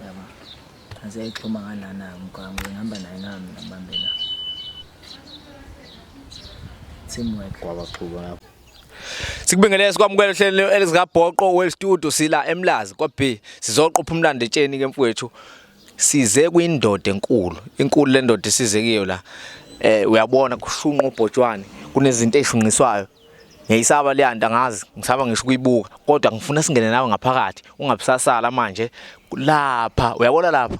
yabo aseyixhuma ngalana mgwaqo ngihamba naye nami ngibambe la teamwork kwabaxhuba lapho Sikubingelele sikwamukele ohlelweni elizikabhoqo World Studio sila eMlazi kwa B sizoqopha umlando etsheni ke mfowethu size kwindoda enkulu inkulu le ndoda isize kiyo la eh uyabona kushunqa ubhotshwane kunezinto ezishunqiswayo ngiyayisaba leya nto angazi ngisaba ngisho ukuyibuka kodwa ngifuna singene nawe ngaphakathi ungabusasala manje lapha uyabona lapha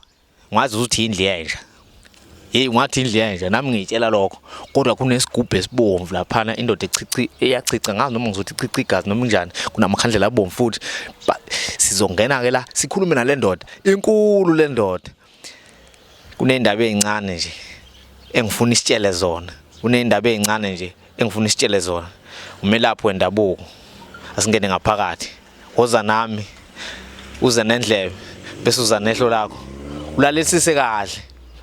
ngazi ukuthi indlu yenja hey ungathi indlu yenja nami ngiyitshela lokho kodwa kunesigubhu esibomvu laphana indoda echichi eyachicha ngazi noma ngizothi chichi igazi noma njani kunamakhandlela abomvu futhi sizongena ke la sikhulume nalendoda inkulu lendoda kunendaba ezincane nje engifuna isitshele zona kunendaba ezincane nje engifuna isitshele zona umelaphi wendabuko asingene ngaphakathi woza nami uze nendlebe bese uza nehlo lakho ulalisise kahle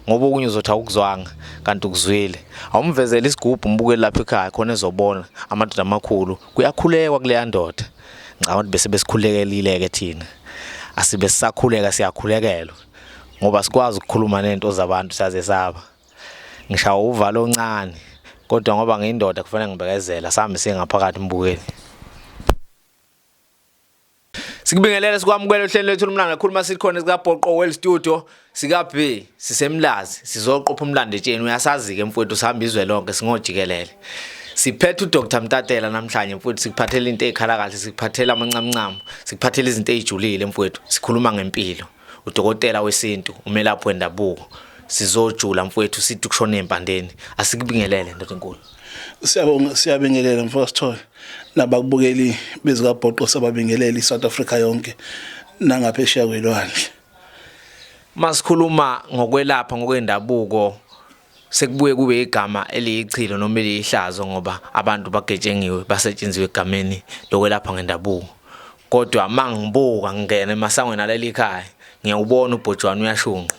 ngoba okunye uzothi awukuzwanga kanti ukuzwile awumvezele isigubhu umbuke lapha ekhaya khona ezobona amadoda amakhulu kuyakhulekwa kuleya ndoda ngicabanga ukuthi bese besikhulekelile-ke thina asibe sisakhuleka siyakhulekelwa ngoba sikwazi ukukhuluma nento zabantu saze saba ngishawa uvalo oncane kodwa ngoba ngiyindoda kufanele ngibekezela sami singaphakathi mbukeni Sikubingelele sikwamukele uhlelo lwethu lomlanga khuluma sikhona sika Bhoqo Well Studio Sika B sisemlazi sizoqopha umlando etsheni uyasazi ke mfowethu sihamba izwe lonke singojikelele. Siphethe uDr Mtatela namhlanje mfowethu sikuphathela into ezikhala kahle sikuphathela amancamncamo sikuphathela izinto ezijulile mfowethu sikhuluma ngempilo udokotela wesintu umelaphi wendabuko sizojula mfowethu sithi kushona empandeni asikubingelele ndoda enkulu siyabonga siyabingelela mfowethu Sithole nabakubukeli bezikabhoqo sababingeleli South Africa yonke nangaphesheya kwelwandle Masikhuluma ngokwelapha ngokwendabuko sekubuye kube igama eliyichilo noma eliyihlazo ngoba abantu bagetshengiwe basetshenziwe egameni lokwelapha ngendabuko kodwa mangibuka ngingena emasangweni aleli khaya ngiyawubona ubhojwana uyashunqa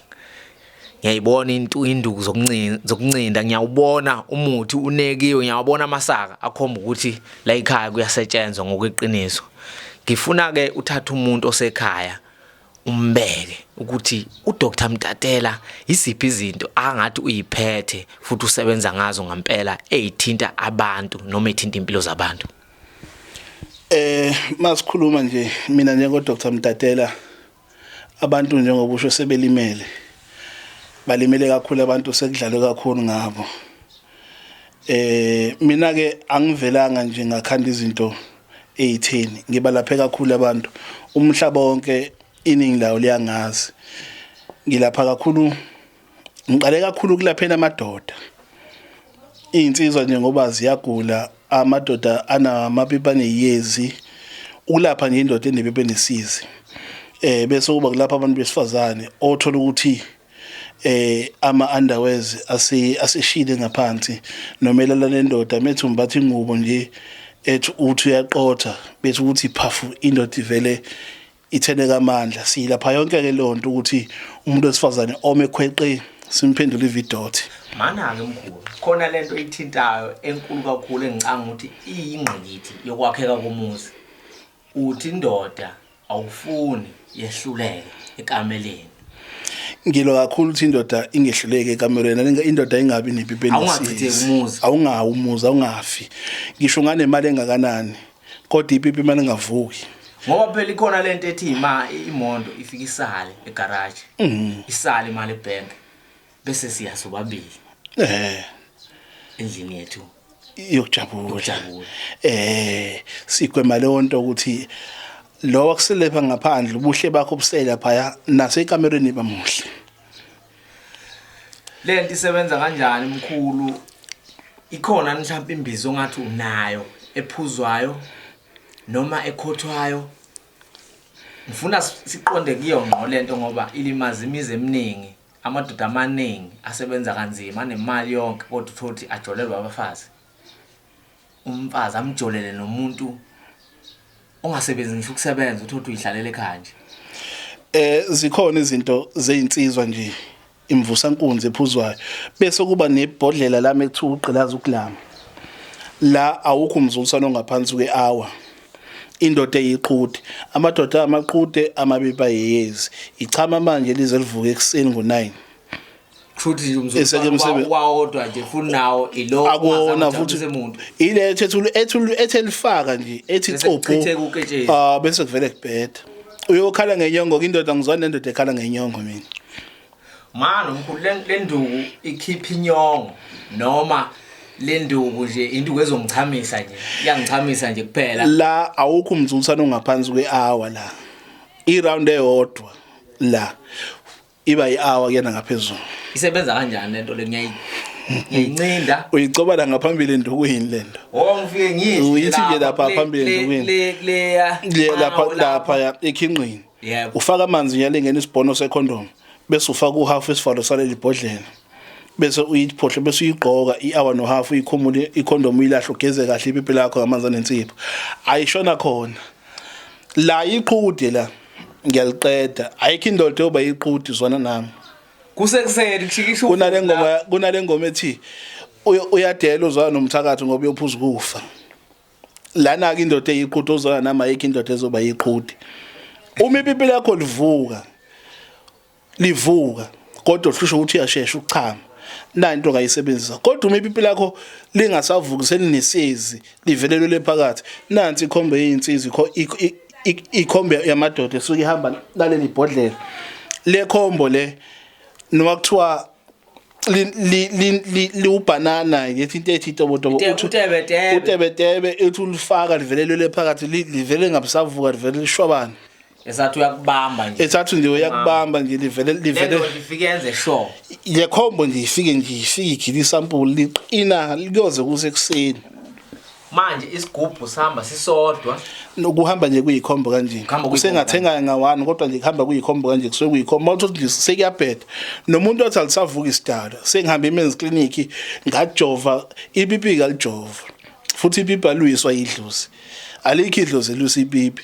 ngiyayibona into induku zokuncinda zokuncinda ngiyawubona umuthi unekiwe ngiyawabona amasaka akhomba ukuthi la ekhaya kuyasetshenzwa ngokweqiniso ngifuna ke uthatha umuntu osekhaya umbeke ukuthi uDr Mtatela yiziphi izinto angathi uyiphethe futhi usebenza ngazo ngempela ezithinta abantu noma ethinta impilo zabantu eh masikhuluma nje mina njengo Dr Mtatela abantu njengoba usho sebelimele balimele kakhulu abantu sekudlalwe kakhulu ngabo eh mina ke angivelanga nje ngakhanda izinto eyitheni ngibalaphe kakhulu abantu umhlaba wonke iningi lawo liyangazi ngilapha kakhulu ngiqale kakhulu ukulaphela amadoda iy'nsizwa nje ngoba ziyagula amadoda anamapipi aneyezi ukulapha nje indoda enepipi enesizi um bese kuba kulapha abantu besifazane othola ukuthi eh ama underwears asi asishile ngaphansi nomelala nendoda methu mbathi ingubo nje ethi uthi uyaqotha bethi ukuthi phafu indoda ivele ithene kamandla silapha yonke ke lonto ukuthi umuntu wesifazane ome khweqe simphendula ividothi mana-ke mkhulu khona le nto ithintayo enkulu kakhulu engicanga ukuthi iyingqikithi yokwakheka komuzi Uthi indoda awufuni yehluleke ekameleni. Ngilo kakhulu ukuthi indoda ingehluleke ekamelweni indoda ingabi nepipi awungachithi awungawu umuzi awungafi ngisho nganemali engakanani kodwa ipipi imali engavuki ngoba phela ikhona lento ethi ima imondo ifika isale egarage mhm. isale imali ebank bese siya sobabili eh endlini yethu yokujabula Yokujabula. eh sigwema leyo nto ukuthi lo wakuselepha ngaphandle ubuhle bakho busela phaya nasekamereni bamuhle le nto isebenza kanjani mkhulu ikhona mhlawumbe imbizo ongathi unayo ephuzwayo noma ekhothwayo ngifuna si- siqonde kuyo ngqo le nto ngoba ilimaza imizi eminingi Amadoda amaningi asebenza kanzima anemali yonke kodwa uthothi ajolelwa abafazi. Umfazi amjolele nomuntu ongasebenzi ngisho ukusebenza uthothi uyihlalela ekhaya nje. Eh zikhona izinto zezinsizwa nje imvusa nkunzi ephuzwayo bese kuba nebhodlela lami ekuthiwa ugqilaza ukulama la awukho umzuliswano ongaphansi kwe-hour indoda eyiqhude amadoda amaqude amabipa yeyezi ichama manje lize livuke ekuseni ngo-9 wawodwa nje futhi nawo ilo akona futhi ile ethethulu ethulu ethelifaka nje ethi copho ah bese kuvele kubheda uyokhala ngenyongo indoda ngizwa nendoda ekhala ngenyongo mina Manje mkhulu lenduku ikhipha inyongo noma lenduku nje induku ezongichamisa nje iyangichamisa nje kuphela la awukho umzulisana ongaphansi kwehour la iround eyodwa la iba ihour kuyena ngaphezulu isebenza kanjani lento le ngiyayi ngiyincinda uyicobala ngaphambili endukwini lento oh ngifike ngithi uyithi nje lapha phambili endukwini le le lapha lapha ekhinqini yebo ufaka amanzi nyala ingena isibhono secondom bese ufaka uhalf isivalo saleli bhodlela bese uyiphohle bese uyigqoka i-hour no half uyikhumule icondom uyilahle ugeze kahle ipipi lakho ngamanzi anensipho ayishona khona la iqhude la ngiyaliqeda ayikho indoda eyoba iqhude zwana nami kusekuseni kushikisha kunale ngoma kunale ngoma ethi uyadela uzwana nomthakathi ngoba uyophuza ukufa lana-ke indoda eyiqhuti ozona nami ayikho indoda ezoba yiqhuti uma ipipi lakho livuka livuka kodwa uhlusha ukuthi uyashesha ukuchama na into ongayisebenzisa kodwa uma ipipi lakho lingasavuki selinesizi livelelwe lephakathi nansi ikhombe yeyinsizi ikhombe yamadoda esuke ihamba laleli bhodlela le khombo le noma kuthiwa liwubhanana ngithi into ethi itobotobo utebetebe ethi ulifaka livelelele phakathi livele ngabusavuka livele lishwabane esathi uyakubamba nje esathi nje uyakubamba nje livele livele lifike enze sure le combo nje ifike nje ifike igila isampuli liqina kuyoze kuse kuseni manje isigubhu sihamba sisodwa nokuhamba nje kuyikhombo kanje usengathenga ngawani kodwa nje kuhamba kuyikhombo kanje kusuke kuyikhombo mawuthi nje sekuyabheda nomuntu othi alisavuka isidala sengihambe emen's clinic ngajova ipipi kalijova futhi ipipi aluyiswa idlozi alikho idlozi elusipipi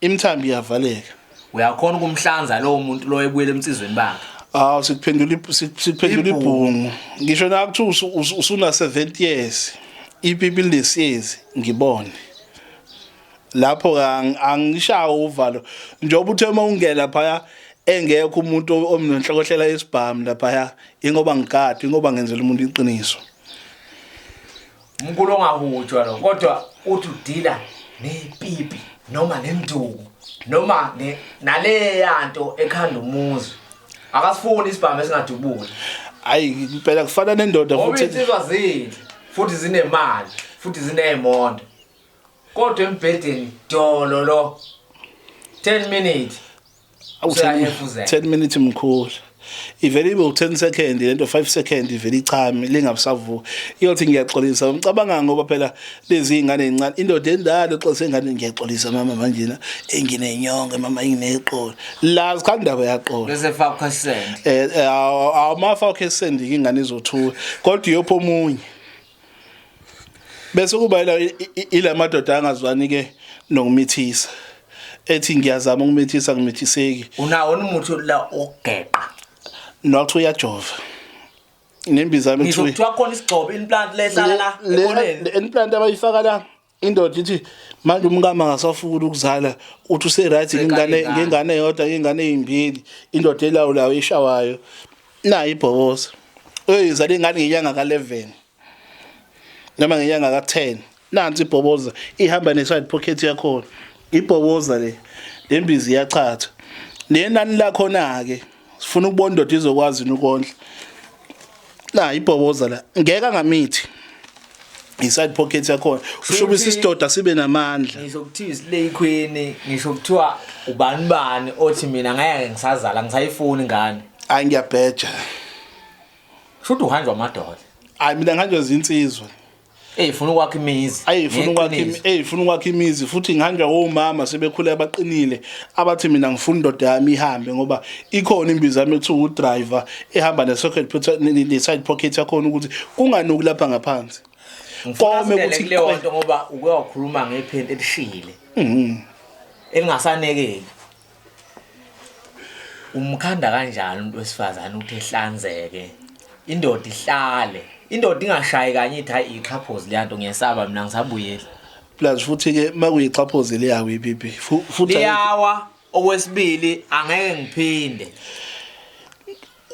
Imthambi iyavaleka. Uyakhona ukumhlanza lowo muntu lo ebuyela emtsizweni bakhe. Aw sikuphendula sikuphendula ibhungu. Ngisho nakuthi usuna 70 years. Ipipi lesiyezi ngibone. Lapho angishawo uvalo. Njengoba uthe uma ungena phaya engekho umuntu omnenhlokohlela yesibhamu lapha ingoba ngigadi ingoba ngenzela umuntu iqiniso Umkulu ongahutshwa lo kodwa uthi udila nepipi noma nenduku noma ne naleya nto ekhanda umuzi. Akasifuni isibhamu esingadubuli. Hayi impela kufana nendoda Ngoba futhi. insizwa zinhle futhi zinemali futhi zineemondo. Kodwa embhedeni dolo lo 10 minutes awu 10 minutes mkhulu ivele ibe u10 second lento 5 second ivele ichame lingabusavuka iyothi ngiyaxolisa umcabanga ngoba phela lezi ingane ezincane indoda endala oxolisa ingane ngiyaxolisa mama manje na enginenyongo mama ingineqolo la sikhanda bayaqola bese fakho send eh, eh awmafa okhe send ingane izothuka kodwa iyopho omunye bese kuba ila ila madoda angazwani ke nokumithisa ethi ngiyazama ukumithisa ngimithiseki unawo umuthi la ogeqa nokuthi uyajova nembiza yami kuthiwa khona isigcobo implant lehlala la implant abayifaka la indoda ithi manje umkama ngasafuna ukuzala uthi use right ngingane ngingane yodwa ngingane ezimbili indoda elawulayo ishawayo nayi ibhoboza uyizala ingane ngenyanga ka 11 noma ngenyanga ka 10 nansi ibhoboza ihamba ne side pocket yakho ibhoboza le lembizi iyachatha nenani lakho na ke sifuna ukubona indoda izokwazi ukondla la ibhoboza la ngeke angamithi inside pocket yakhona ushuba isidoda sibe namandla ngisho kuthiwa isile ikhwini ngisho kuthiwa ubani bani othi mina ngeke ngisazala ngisayifuni ngane hayi ngiyabheja shuthi uhanjwa amadoda hayi mina ngihanjwa zinsizwa eyifuna ukwakha imizi eyifuna ukwakha eyifuna ukwakha imizi futhi ngihanjwa omama sebekhule abaqinile abathi mina ngifuna indoda yami ihambe ngoba ikhona imbiza yami ethu u driver ehamba ne socket ne side pocket yakhona ukuthi kunganuki lapha ngaphansi kome ukuthi kuleyo nto ngoba uke wakhuluma ngephenti elishile mhm. elingasanekeki umkhanda kanjani umuntu wesifazane ukuthi ehlanzeke indoda ihlale indoda ingashayi kanye ithi hayi ixhaphozi leyanto ngiyesaba mina ngisabuyela plus futhi ke makuyixhaphozi leyawo ipipi futhi yawa okwesibili angeke ngiphinde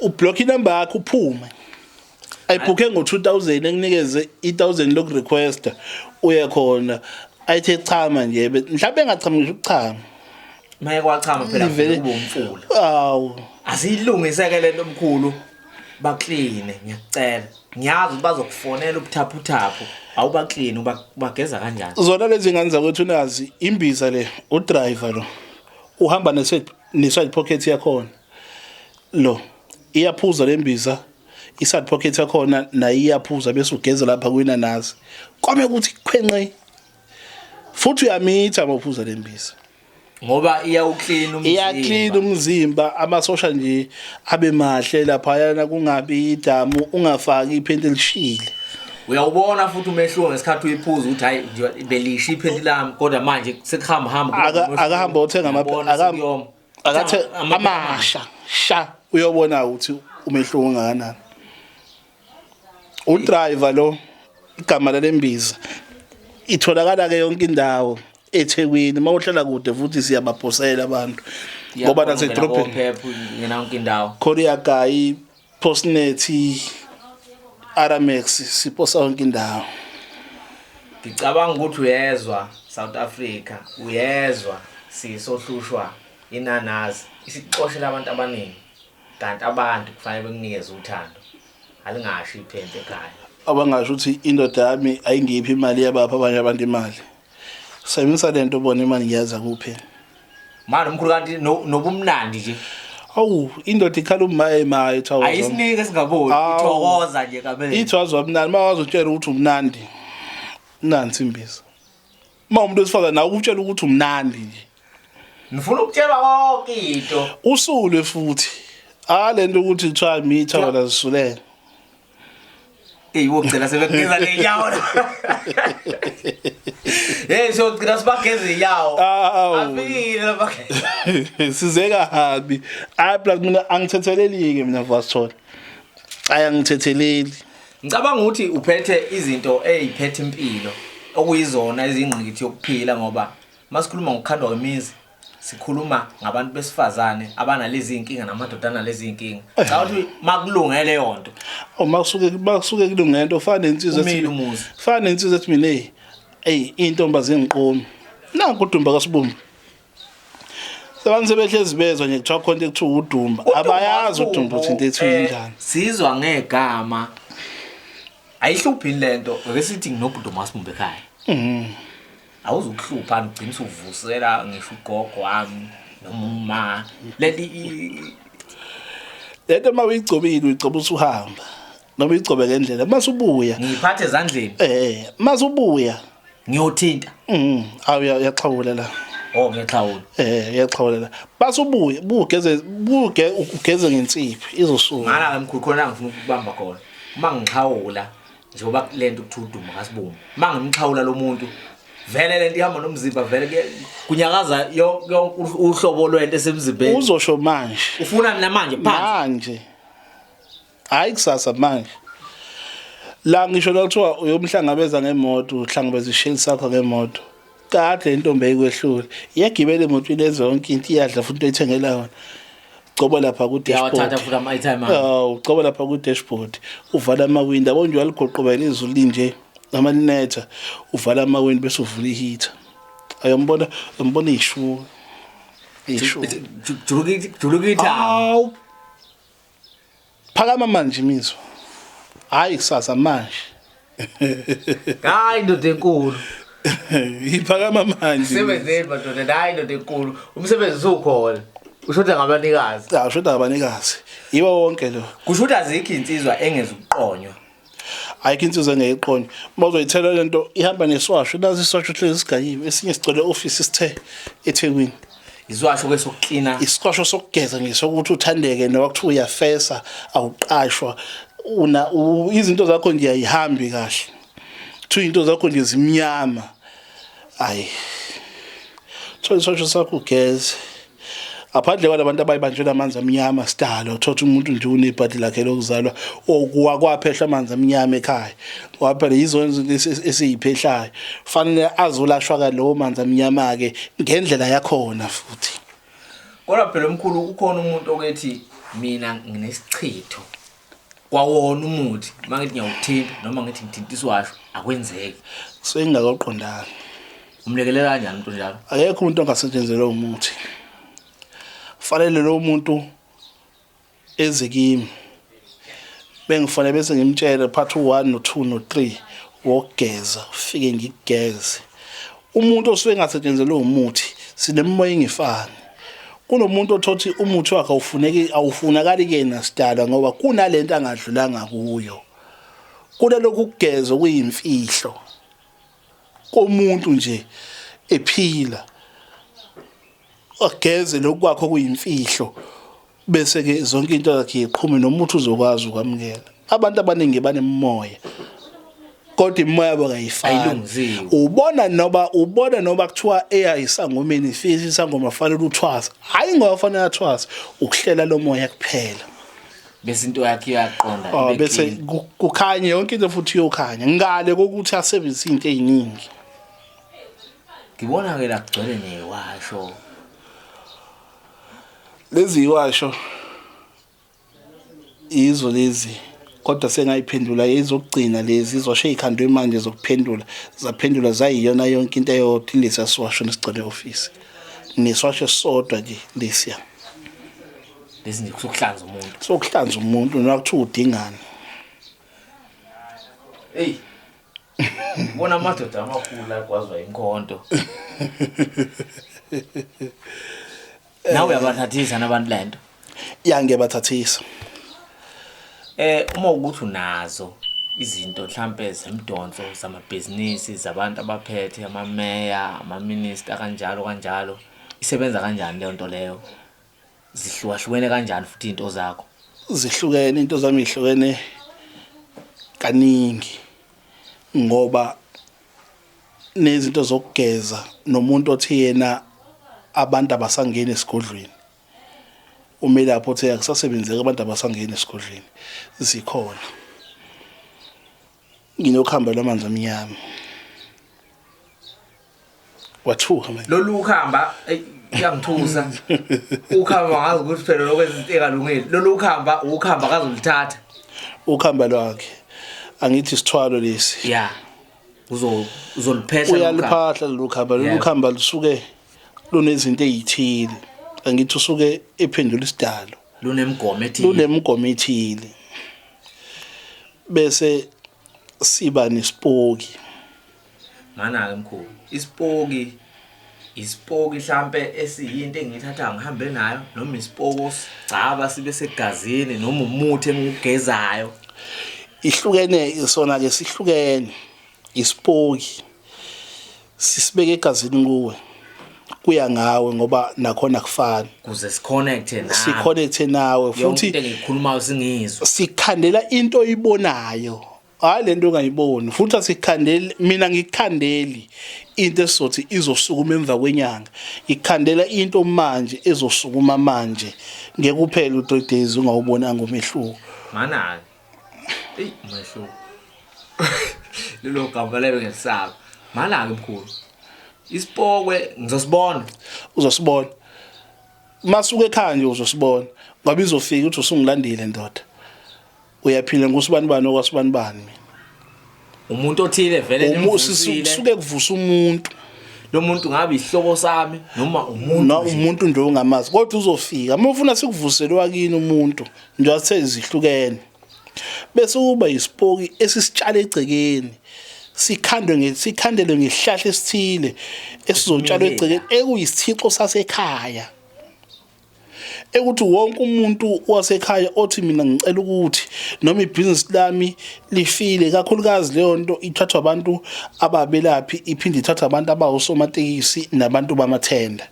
ublock inumber yakho uphume ayibhukhe ngo-2000 ekunikeze i-1000 lokurequesta uye khona ayithe chama nje mhlawumbe engachama ngisho ukuchama maye kwachama phela kuba umfula awu asiyilungiseke lento omkhulu bakline ngiyacela ngiyazi ukuthi bazokufonela ubuthaphuthaphu awubakline ubageza kanjani zona lezi ngane zakwethu nazi imbiza le udriver lo uhamba neside pocket yakhona Lo iyaphuza lembiza iside pocket yakhona nayo iyaphuza bese ugeze lapha kwinanazi. Kwame ukuthi khwenqe. Futhi uyamitha mawuphuza lembiza. ngoba iyawuclean umzimba iyaclean umzimba amasosha nje abe mahle laphayana kungabi idamu ungafaki iphenti elishile uyawubona futhi umehluko ngesikhathi uyiphuza ukuthi hayi nje belisha iphenti lami kodwa manje sekuhamba hamba Aka- akahambe othenga ama- Uyabona, akaham- sekuyoma. akathe amasha sha uyobona ukuthi umehluko ongakanani udriver lo igama lalembiza itholakala ke yonke indawo eThekwini mawuhlala kude futhi siyabaphosela abantu ngoba nasedrobheni khona iyagayi Postnethi Aramex siposa yonke indawo. Ngicabanga ukuthi uyezwa South Africa, uyezwa sisohlushwa inanazi isixoshela abantu abaningi kanti abantu kufanele bekunikeze uthando. Alingashi iphente ekhaya. Abangasho ukuthi indoda yami ayingiphi imali yabapha abanye abantu imali. Sebenzisa lento ubone imali ngiyaza kuphi. Manje umkhulu kanti nobumnandi nje. Awu indoda ikhala umaye maye thawo. Ayisinike singaboni ithokoza nje kabele. Ithwazwa mnandi mawazotshela ukuthi umnandi. Nansi imbiza. Uma umuntu wesifazana nawe ukutshela ukuthi umnandi nje. Ngifuna ukutshelwa konke into. Usule futhi. Ah lento ukuthi kuthiwa mitha wala zisulela. Eyi wogcina sebegeza ngenyawo. Hey so gcina sibageza inyawo. Afile labageza. Sizeka habi. Ay plus mina angithetheleli ke mina vasithola. Ay angithetheleli. Ngicabanga ukuthi uphethe izinto eziphethe impilo okuyizona izingqikithi yokuphila ngoba masikhuluma ngokukhandwa kwemizi sikhuluma ngabantu besifazane abanalezi inkinga namadoda analezi inkinga eh. cha ukuthi makulunge leyo nto uma oh, kusuke bakusuke kulunge into fana nensizwa ethi fana nensizwa ethi mina hey hey intombazi engiqomi na kudumba kasibumba Abantu sebehlezi bezwa nje kuthiwa khona ekuthiwa udumba abayazi udumba ukuthi into ethi eh, njani sizwa ngegama ayihluphi lento ngeke sithi nginobhuti umasibumbe ekhaya mhm awuzukuhlupha ngigcina usuvusela ngisho ugogo wami noma uma leli lento uma uyigcobile uyigcoba usuhamba noma uyigcobe ngendlela uma usubuya ngiyiphathe ezandleni eh uma usubuya ngiyothinta mhm awu uyaxhawula la Oh ngiyaxhawula. Eh ngiyaxhawulela. Base ubuye bugeze buge ugeze ngensiphi izosuka. Ngala ngemkhulu khona ngifuna ukubamba khona. Uma ngixhawula njengoba kulento kuthiwa udumo kasibumbu uma ngimxhawula lo muntu vele lento ihamba nomzimba vele kuye- kunyakaza yo- yo- u- uhlobo lwento esemzimbeni uzosho manje ufuna mina manje phansi manje hayi kusasa manje la ngisho nakuthiwa uyomhlangabeza ngemoto uhlangabeza isheli sakho ngemoto Kade intombi eyikwehlule. Iyagibela emotweni ezonke into iyadla futhi into ethengela yona. Coba lapha ku dashboard. Yawathatha futhi ama item. Awu, coba lapha ku dashboard. Uvala ama window, yabo nje waligoqobela izulu linje. Noma linetha, uvala ama window bese uvula iheater. Ayombona, umbona ishu. Ishu. Julukithi, julukithi. Awu. Phakama manje imizwa. Hayi kusasa manje. Hayi ndoda enkulu. Iphakama manje. Sebenzeni madoda, hayi ndoda enkulu. Umsebenzi usukhona. Ushoda ngabanikazi. Cha, ushoda ngabanikazi. Yiwo wonke lo. Kusho ukuthi azikho insizwa engeza ukuqonywa. ayikho insizwa engeyiqonya uma uzoyithela le nto ihamba neswasho nazi iswasho hlezi sigayiwe esinye sigcwele ofisi sithe ethekwini iswasho ke sokuklina iswasho sokugeza ngisho ukuthi uthandeke noma kuthiwa uyafesa awuqashwa una izinto zakho nje ayihambi kahle kuthiwa izinto zakho nje zimnyama ayi thola iswasho sakho ugeze Aphandle kwalabantu abayibanjwe namanzi amnyama sidalo thothi umuntu nje unebhadi lakhe lokuzalwa okwakwaphehlwa amanzi amnyama ekhaya ngoba phela yizo esiyiphehlayo fanele azolashwa ka lowo manzi amnyama ke ngendlela yakhona futhi kodwa phela omkhulu ukhona umuntu okethi mina nginesichitho kwawona umuthi uma ngithi ngiyawuthinta noma ngithi ngithinta isiwasho akwenzeki kusuke ngingakaqondanga umlekelela kanjani umuntu njalo akekho umuntu ongasetshenzelwe umuthi fanele lo muntu eze kimi bengifanele bese ngimtshele part 1 no 2 no 3 wokugeza ufike ngigeze umuntu osuke engasetshenzelwe umuthi sinemimoya engefani kunomuntu othothi umuthi wakhe awufuneki awufunakali kuyena sidala ngoba kunalento angadlulanga kuyo kunalokhu ukugeza kuyimfihlo komuntu nje ephila Ageze lokhu kwakho kuyimfihlo bese ke zonke into yakhe iqhume nomuntu uzokwazi ukwamukela. Abantu abaningi banemimoya kodwa imimoya yabo kayifani ubona noba ubona noba kuthiwa eya isangomeni ifisa isangoma fanele uthwasa hayi ngoba fanele athwasa ukuhlela lo moya kuphela bese into yakhe iyaqonda oh, bese kukhanye yonke into futhi iyokhanya ngale kokuthi asebenzise into eziningi ngibona ke la kugcwele newasho lezi yiwasho yizo lezi kodwa sengayiphendula izokugcina lezi izosho ey'khandwe manje zokuphendula zaphendula zayiyona yonke into eyodwa ilesiya siwasho nesigcwele ofisi neswasho esisodwa nje lesiya lesi nje kusokuhlanza umuntu sokuhlanza umuntu noma kuthiwa udingani eyi Ngibona amadoda amakhulu la kwazwa inkonto. Nawe uyabathathisa nabantu lento. Ya ngiyabathathisa. Eh uma ukuthi unazo izinto mhlambe zemdonso zamabhizinisi zabantu abaphethe amameya, amaminister kanjalo kanjalo. Isebenza kanjani leyo nto leyo? Zihlukahlukene kanjani futhi into zakho? Zihlukene into zami ihlukene kaningi ngoba nezinto zokugeza nomuntu othi yena abantu abasangeni esigodlweni umelaphi othe akusasebenzeki abantu abasangeni esigodlweni zikhona nginokhamba lwamanzi amnyama wathuka manje lolu ukhamba iyangithusa ukhamba ngazi ukuthi phela lokwenza into engalungile lolu ukhamba ukhamba kazolithatha ukhamba lwakhe angithi isithwalo lesi ya uzo uzoliphehla uyaliphahla lolu khamba lolu khamba lusuke lunezinto ezithile angithi usuke ephendula isidalo lunemigomo ethile lunemigomo ethile bese siba nesipoki mana ke mkhulu isipoki isipoki mhlambe esiyinto engiyithatha ngihambe nayo noma isipoki osigcaba sibe segazini noma umuthi engigezayo ihlukene sona ke sihlukene isipoki Sisibeke egazini kuwe. Kuya ngawe ngoba nakhona kufani. Kuze siconnecte nawe. Siconnecte nawe futhi into engikhulumayo singizwe. Sikhandela into oyibonayo. Hayi lento ongayiboni futhi asikhandeli mina ngikhandeli into esizothi izosukuma emva kwenyanga ngikhandela into manje ezosukuma manje ngeke uphele u3 days ungawubonanga umehluko. Manake. eyi umehluko lelo gama lelo ngesaba mala-ke mkhulu isipokwe ngizosibona uzosibona masuke ekhaya nje uzosibona ngoba izofika uthi usungilandile ndoda uyaphila ngusibani bani okwasibani bani mina umuntu othile vele nimvusile suke kuvusa umuntu lo muntu ngabe isihloko sami noma umuntu no umuntu nje ongamazi kodwa uzofika uma ufuna sikuvusele wakini umuntu nje athe izihlukene bese uba isipoki esisitshala egcekeni sikhandwe ngesikhandelwe ngehlahla esithile esizotshalwa egcekeni ekuyisithixo sasekhaya ekuthi wonke umuntu wasekhaya othi mina ngicela ukuthi noma ibhizinisi lami lifile kakhulukazi leyo nto ithathwa abantu ababelaphi iphinde ithathwa abantu abawusomatekisi nabantu bamathenda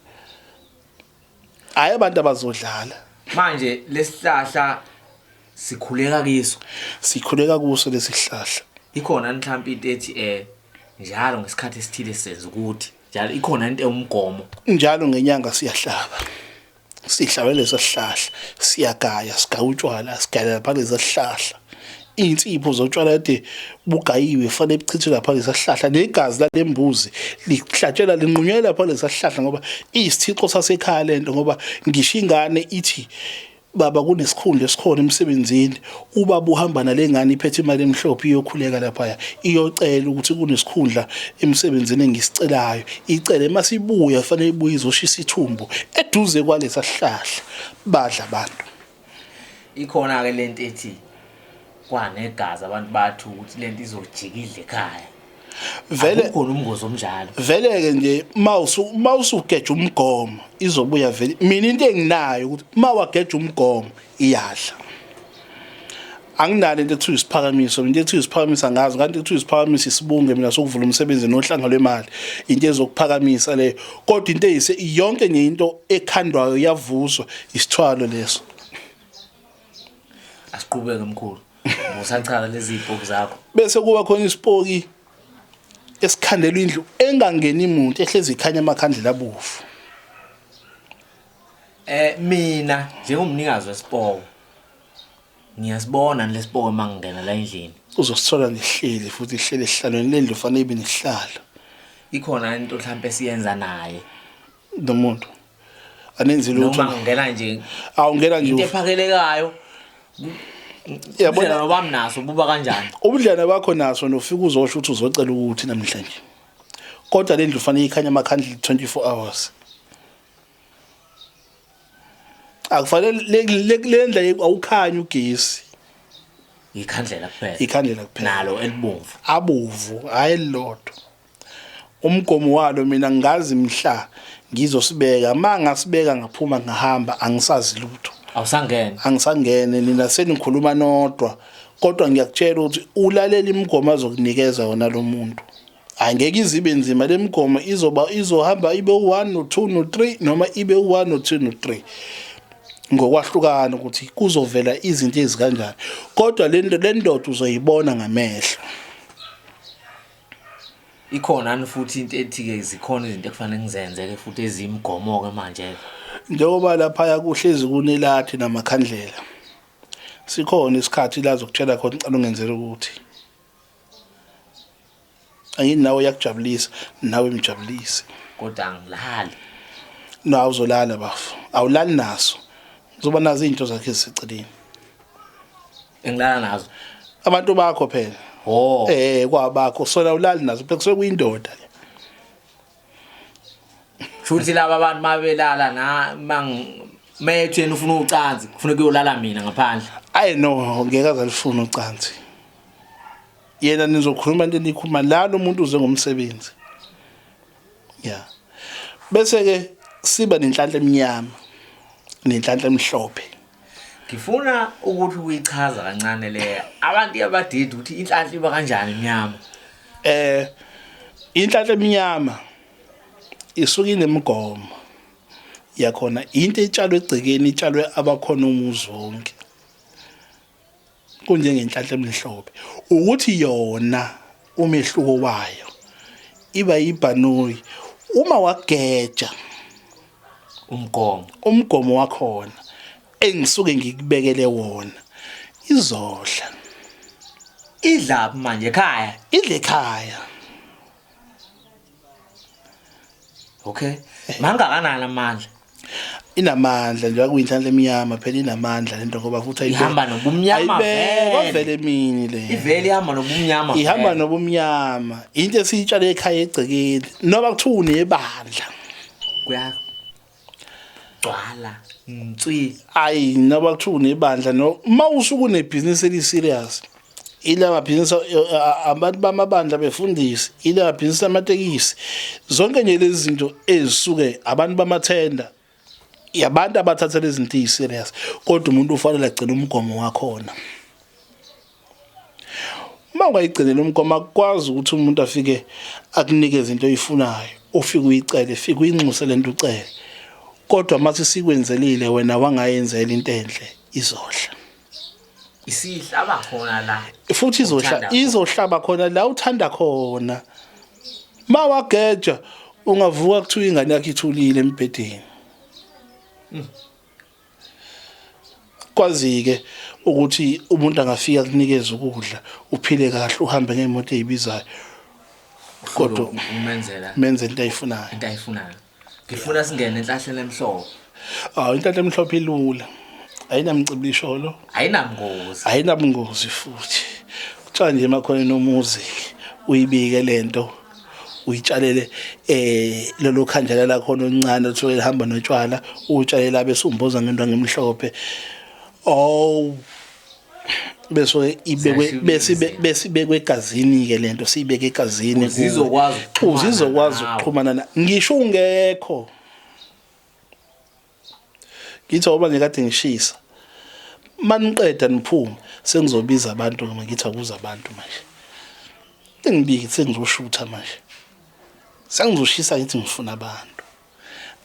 hayi abantu abazodlala manje lesihlahla sikhuleka kiso sikhuleka kuso lesihlahla ikhona mhlawumbe into ethi eh njalo ngesikhathi esithile senza ukuthi njalo ikhona into ewumgomo njalo ngenyanga siyahlaba sihlawele sesihlahla siyagaya sigaya utshwala sigalela phansi sesihlahla insipho zotshwala kade bugayiwe fanele buchithwe lapha lesahlahla negazi lalembuzi lihlatshelwa linqunywe lapha lesahlahla ngoba isithixo sasekhaya lento ngoba ngisho ingane ithi Baba kunesikhundla esikhona emsebenzini ubaba uhamba nalengane iphethe imali emhlophe iyokhuleka laphaya iyocela ukuthi kunesikhundla emsebenzini engisicelayo icele masibuya fanele ibuye izoshisa ithumbu eduze kwalesa sihlahla badla abantu ikhona ke lento ethi Kwanegazi abantu bathu ukuthi lento izojika idle ekhaya. Vele kukhona umngozi omnjalo. Vele ke nje mawusu mawusugeja umgomo izobuya vele. Mina into enginayo ukuthi mawageja umgomo iyadla. Anginalo into ekuthiwa isiphakamiso, into ekuthiwa isiphakamiso angazi kanti ekuthiwa isiphakamiso isibunge mina sokuvula umsebenzi nohlanga lwemali. Into ezokuphakamisa leyo. Kodwa into eyise yonke nje into ekhandwayo yavuswa isithwalo leso. asiqhubeke mkhulu usachaka lezi ipoki zakho bese kuba khona isipoki esikhandelwa indlu engangeni muntu ehlezi ikhanya amakhandlela abovu eh mina njengomnikazi wesipoko ngiyasibona lesipoko mangingena la endlini uzosithola nihleli futhi ihlele ehlalweni lendlu fanele ibe nihlala ikhona into mhlawumbe siyenza naye nomuntu anenzi lutho noma ngena nje awungena nje into ephakelekayo yabona nobam naso ububa kanjani ubudlane bakho naso nofika uzosho ukuthi uzocela ukuthi namhlanje kodwa lendlu fanele ikhanye amakhandle 24 hours akufanele lendla awukhanye ugesi ikhandlela kuphela ikhandlela kuphela nalo elibomvu abovu hayi lodwa Umgomo walo mina ngazi mhla ngizosibeka mangasibeka ngaphuma ngahamba angisazi lutho awusangene angisangene nina senikhuluma nodwa kodwa ngiyakutshela ukuthi ulalela imigomo azokunikeza yona lo muntu angeke izibe nzima lemigomo izoba izohamba ibe u1 no2 no3 noma ibe u1 no2 no3 ngokwahlukana ukuthi kuzovela izinto ezikanjani kodwa lento lendoda uzoyibona ngamehlo ikhonani futhi into ethi-ke zikhona izinto ekufanele ngizenze-ke futhi eziyimigomo-ke manje-ke njengoba laphaya kuhlezi kunelathi namakhandlela sikhona isikhathi la zokutshela khona ucela ungenzela ukuthi angini nawe uyakujabulisa nawe imjabulise kodwa angilali no awuzolala bafo awulali naso uzoba nazo izinto zakhe eziseceleni engilala nazo abantu bakho phela oh eh kwabakho sona ulali nazo phela kusuke kuyindoda ke futhi laba abantu mabelala na mang methu yena ufuna ucansi kufuneka uyolala mina ngaphandle ayi no ngeke azalifuna ucansi yena nizokhuluma into enikhuluma la lo muntu uze ngomsebenzi ya bese ke siba nenhlanhla emnyama nenhlanhla emhlophe ngifuna ukuthi uyichaza kancane le abantu abadidi ukuthi inhlanhla iba kanjani imnyama eh inhlanhla emnyama isuke inemigomo yakhona into etshalwe egcekeni itshalwe abakhona umuzi wonke kunjengenhlanhla emhlophe ukuthi yona umehluko wayo iba yibhanoyi uma wageja umgomo umgomo wakhona engisuke ngikubekele wona izodla idla manje ekhaya idla ekhaya okay mangakanani amandla inamandla nje akuyinhlanhla emnyama phela inamandla lento ngoba futhi ihamba nobumnyama vele mini le ivele ihamba nobumnyama ihamba nobumnyama into esiyitshale ekhaya egcekeni noba kuthiwa unebandla kuya gcwala nswi ayi naba kuthiwa unebandla no uma usuke unebhizinisi eli-serious ila mabhizinisi abantu bamabandla befundisi ila mabhizinisi amatekisi zonke nje lezi zinto ezisuke abantu bamathenda yabantu abathatha lezi zinto eyi-serious kodwa umuntu ufanele agcine umgomo wakhona uma ungayigcinela umgomo akukwazi ukuthi umuntu afike akunikeze into oyifunayo ufike uyicele fike uyinxuse lento ucele kodwa mathi sikwenzelile wena wangayenzela into enhle izohla isihlaba khona la futhi izohla izohlaba khona la uthanda khona mawageja ungavuka kuthiwa ingane yakhe ithulile embhedeni hmm. Kwazike ukuthi umuntu angafika kunikeza ukudla uphile kahle uhambe ngemoto ezibizayo kodwa umenzela menzela into ayifunayo into ayifunayo ngifuna singene enhlahleni emhlophe awu inhlahla emhlophe ilula ayinamcibisholo ayinabungozi ayinabungozi futhi kuthiwa nje emakhona nomuzi uyibike lento uyitshalele eh lelo khandlela lakho oluncane othola lihamba notshwala utshalela bese umboza ngento ngemhlophe oh beso ibekwe bese bese ibekwe egazini ke lento siyibeke egazini uzizokwazi uzizokwazi ukuxhumana ngisho ungekho Ngithi awuba ngikade ngishisa. Maniqeda niphume sengizobiza abantu noma ngithi akuza abantu manje. Engibiki sengizoshutha manje. Sengizoshisa ngithi ngifuna abantu.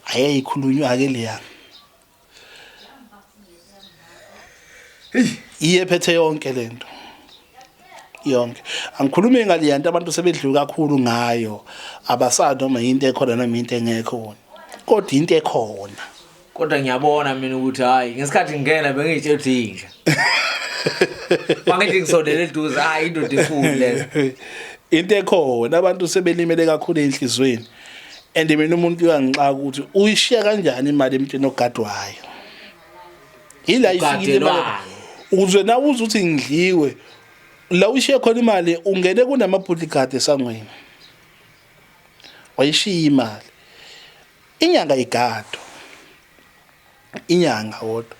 Ayeyikhulunywa ke leya. Hey, iyephethe yonke lento. yonke angikhulume ngale yanto abantu sebedliwe kakhulu ngayo abasado noma yinto ekhona noma yinto engekho kodwa into ekhona kodwa ngiyabona mina ukuthi hayi ngesikhathi ngingena bengitshe ukuthi inja mangithi ngisondele eduze hayi indoda enkulu le into ekhona abantu sebelimele kakhulu enhlizweni and mina umuntu uyangixaka ukuthi uyishiya kanjani imali emntwini ogadwayo ila ifikile imali uzwe na uze uthi ngidliwe la ushiye khona imali ungene kunamabhudli gade esangweni wayishiya imali inyanga igado inyanga wodwa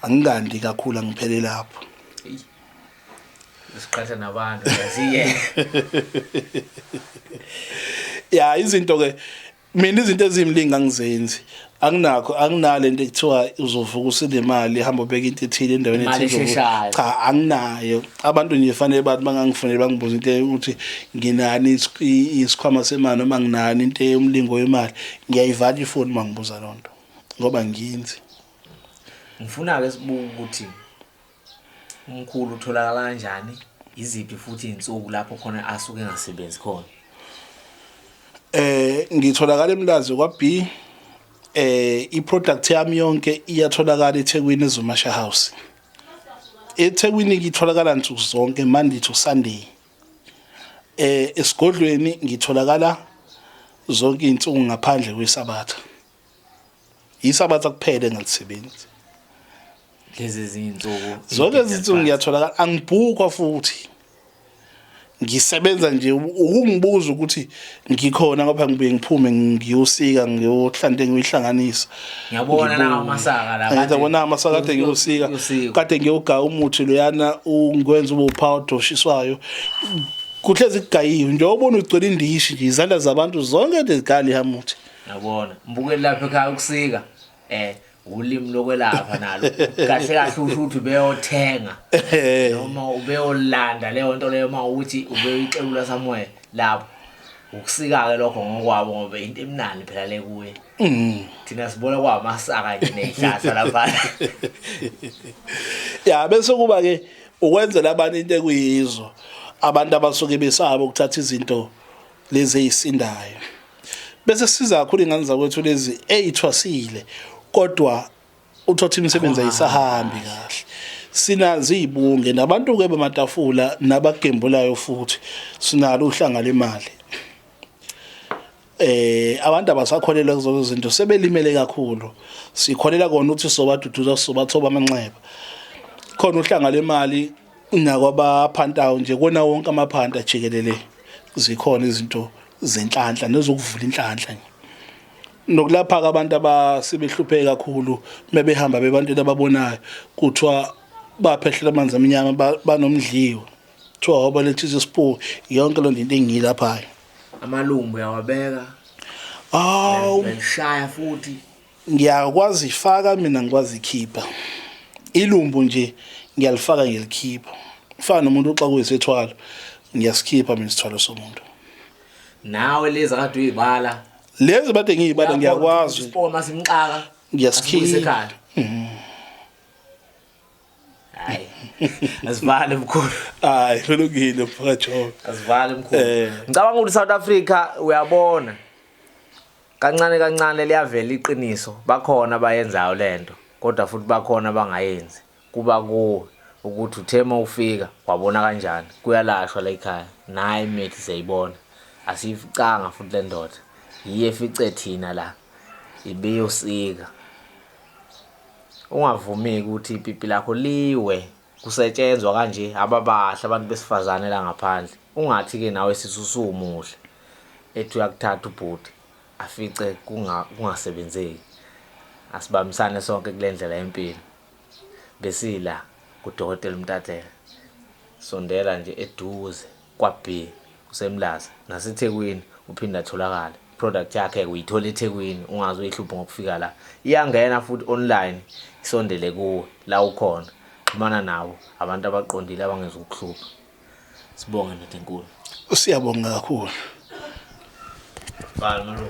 angikandi kakhulu angiphele lapho siqhatha nabantu yaziye ya izinto ke mina izinto ezimlingi angizenzi anginakho anginale into ekuthiwa uzovuka usile imali ihamba ubeka into ethile endaweni ethile cha anginayo abantu nje fanele bathi bangangifunele bangibuza into ukuthi nginani isikhwama semali noma nginani into yomlingo wemali ngiyayivala ifoni mangibuza lonto ngoba nginzi ngifuna ke sibuka ukuthi Umkhulu utholakala kanjani? Iziphi futhi izinsuku lapho khona asuke engasebenzi khona? Eh ngitholakala eMlazi kwa B. Eh iproduct yami yonke iyatholakala eThekwini eZumasha House. EThekwini ngitholakala nsuku zonke Monday to Sunday. Eh esigodlweni ngitholakala zonke izinsuku ngaphandle kwesabatha. yisabatha kuphele ngalisebenzi lezi zinsuku zonke izinsuku ngiyatholakala angibhukwa futhi ngisebenza nje ukungibuza ukuthi ngikhona ngoba ngibuye ngiphume ngiyosika ngiyohlante ngiyihlanganisa ngiyabona nawo masaka la kade ngiyabona amasaka kade ngiyosika kade ngiyoga umuthi loyana ungikwenza ube uphawu doshiswayo kuhlezi kugayiwe nje ubona ugcwele indishi nje izandla zabantu zonke lezikali hamuthi Yabona, mbukeli lapha ekhaya ukusika. Eh, ulimi lokwelapha nalo. Kahle kahle usho ukuthi ubeyothenga noma ubeyolanda leyo nto leyo uma ukuthi ubeyixekula somewhere lapho. Ukusika-ke lokho ngokwabo ngoba into emnandi phela le kuye. Mm. Thina sibona kwamasaka nje nezihlahla lapha. Ya bese kuba ke ukwenzela abantu into ekuyizo abantu abasuke besaba ukuthatha izinto lezi ezisindayo bese siza kakhulu ingane zakwethu lezi ezithwasile kodwa uthothi imisebenzi ayisahambi kahle sinazi izibunge nabantu ke bamatafula nabagembulayo futhi sinalo uhlanga lemali eh abantu abasakholelwa kuzo zinto sebelimele kakhulu sikholela kona ukuthi sobaduduza sobathoba amanxeba khona uhlanga lemali nakwabaphantayo nje kona wonke amaphanta jikelele zikhona izinto zenhlanhla nezokuvula inhlanhla nje nokulapha ke abantu abasebehlupheke kakhulu mebehamba bebantwini ababonayo kuthiwa baphehlela amanzi amnyama banomdliwa kuthiwa wabaletha isipoki yonke loo nto into engiyilaphayo amalungu uyawabeka awu ngishaya futhi ngiyakwazi ifaka mina ngikwazi ikhipha ilumbu nje ngiyalifaka ngilikhipha fana nomuntu oxa kuyisithwalo ngiyasikhipha mina isithwalo somuntu nawe lezi akade uyibala lezi bade ngiyibala ngiyakwazi isipoma simxaka ngiyasikhipha mhm. hayi asivale mkhulu hayi kulungile mfakajobe asivale mkhulu eh. ngicabanga ukuthi South Africa uyabona Kancane kancane liyavela iqiniso, bakhona abayenzayo lento kodwa futhi bakhona abangayenzi. Kuba kuwe ukuthi uthe uma ufika wabona kanjani kuyalashwa la ekhaya naye imithi siyayibona asiyificanga futhi le ndoda yiye efice thina la ibiyosika ungavumi ukuthi ipipi lakho liwe kusetshenzwa kanje ababahle abantu besifazane la ngaphandle ungathi-ke nawe sithi usuwumuhle ethi uyakuthatha ubhuti afice kungasebenzeki asibambisane sonke kule ndlela yempilo besila kudokotela umtatela sondela nje eduze KwaB, kuseMlaza, naseThekwini uphinde atholakale. Product yakhe-ke uyithola eThekwini, ungaze uyihluphe ngokufika la. Iyangena futhi online, isondele kuwe la ukhona. Xhumana nabo, abantu abaqondile abangezukukuhlupha. Sibonge ndoda enkulu. Siyabonga kakhulu. Bhala malume.